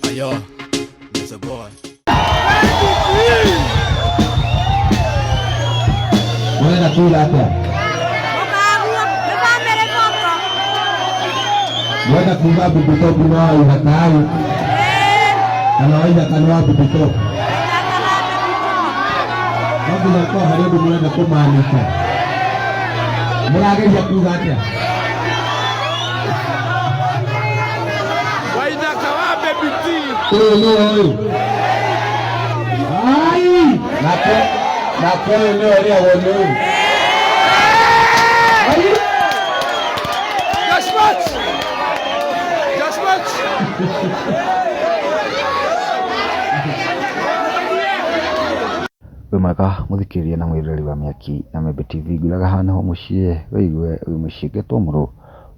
Ayo, there's a boy. Murenda kuuga atĩa? Murenda kuuga Bibitopu no waiga kaai kana waiga kana wa Bibitopu? No nginya korwo harĩ ũndũ mũrenda kũmaanisha. Mũrageria kuuga atĩa? wĩ mwega mũthikĩrĩria na mwĩroreri wa Mĩaki na Membe TV ngũraga haha nĩho mũciĩ wĩigue wĩ mũciĩ ngetwo mũrũ.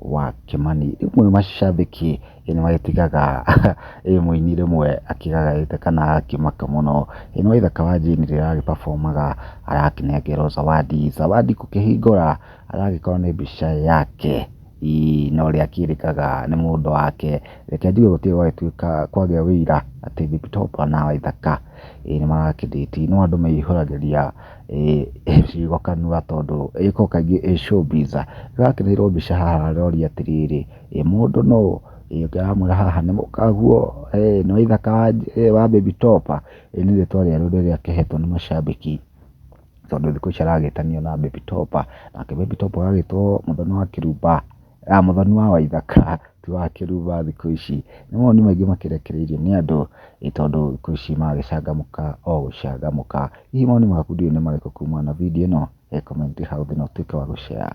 wa Kĩmani. Rĩmwe macambĩki nĩ magĩtigaga mũini rĩmwe akĩgagaĩte kana akĩmaka mũno. Ĩ nĩwĩ thaka wa Jane rĩrĩa aragĩ perform aga arakĩnengerwo Zawadi. Zawadi gũkĩhingũra aragĩkorwo nĩ mbica yake na ũrĩa akĩrĩkaga nĩ mũndũ wake. Reke njuge gũtirĩ gwagĩtuĩka kwagĩa ũira atĩ Big Top na Waithaka nĩ mara kĩ date. No andũ maihũragĩria ciugo kanua tondũ ĩko kaingĩ ĩ showbiz. Ndĩrakĩrĩirwo mbica haha aroria atĩrĩrĩ, ĩ mũndũ nũ? Ĩ ũngĩ aramwĩra haha nĩ mũkaguo, nĩ wa ithaka wa baby top. Ĩ nĩ rĩtwa rĩerũ rĩrĩa akĩhetwo nĩ macambĩki tondũ thikũ ici aragĩtanio na baby top, nake baby top agagĩtwo mũthoni wa kĩrumba. Mũthoni wa Waithaka ti wa Kĩruba thikũ ici. Nĩ mawoni maingĩ makĩrekereirio nĩ andũ nĩ tondũ thikũ ici magĩcangamũka o gũcangamũka. Hihi mawoni maku ndiũĩ nĩ marĩkũ kumana na video ĩno? He comment hau thĩ na ũtuĩke wa gũ share.